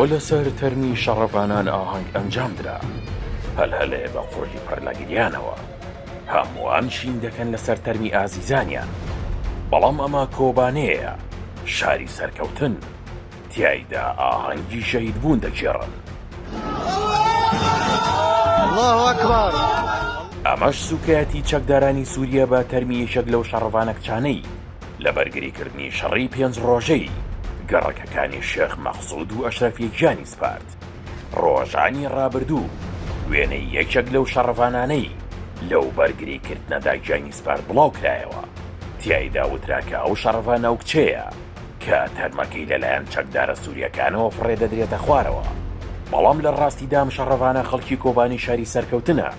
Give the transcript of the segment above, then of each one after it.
بۆ لەسەر تەرمی شەڕڤانان ئاهەنگ ئەنجام درا. هەلهەلێ بە قوڕگی پڕ لە گریانەوە. هەمووان شین دەکەن لەسەر تەرمی ئازیزانیان. بەڵام ئەمە کۆبانێیە، شاری سەرکەوتن. تیایدا ئاهەنگی شەهیدبوون دەگێڕن. ئەمەش سووکایەتی چەکدارانی سووریە بە تەرمی یەکێک لەو شەڕڤانە کچانەی. لە بەرگریکردنی شەڕی پێنج ڕۆژەی گەڕەکەکانی شێخ مەقسود و ئەشرەفی گیانی سپارد. ڕۆژانی ڕابردوو وێنەی یەکێک لەو شەڕڤانانەی لەو بەرگریکردنەدا گیانی سپارد بڵاوکرایەوە، تیایدا وترا کە ئەو شەڕڤە ناوکچەیە کە تەرمەکەی لەلایەن چەکدارە سورییەکانەوە فڕێدەدرێتە خوارەوە، بەڵام لە ڕاستیدا ئەم شەڕڤانە خەڵکی کۆبانی شاری سەرکەوتنە.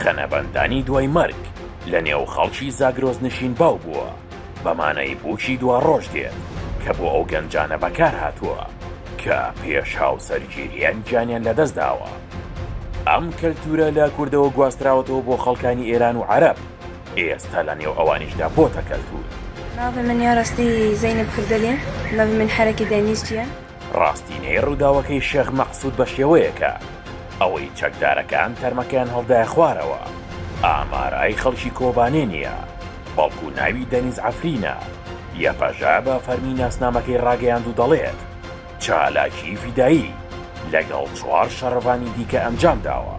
خەنەبەندانی دوای مەرگ لە نێو خەڵکی زاگرۆس نشین باو بووە بە مانای بووکی دواڕۆژ دێت کە بۆ ئەو گەنجانە بەکار هاتووە کە پێش هاوسەرگیرییان گیانیان لە دەست داوە. ئەم کەلتوورە لە کوردەوە گواستراوەتەوە بۆ خەڵکانی ئێران و عەرەب، ئێستا لە نێو ئەوانیشدا بۆتە کەلتوور. ناوی من یارەستی زەینەب کردەلیم، ناوی من حەرەکی دەنیز چیە؟ ڕاستینەی ڕووداوەکەی شێخ مەقسود بەشێوەیەکە ئەوەی چەکدارەکان تەرمەکەیان هەڵدایە خوارەوە ئامارای خەڵکی کۆبانێ نیە بەڵکو ناوی دەنیز عەفرینە، یەپەژە بە فەرمی ناسنامەکەی ڕاگەیاند و دەڵێت چالاکی فیدایی لەگەڵ چوار شەڕڤانی دیکە ئەنجام داوە.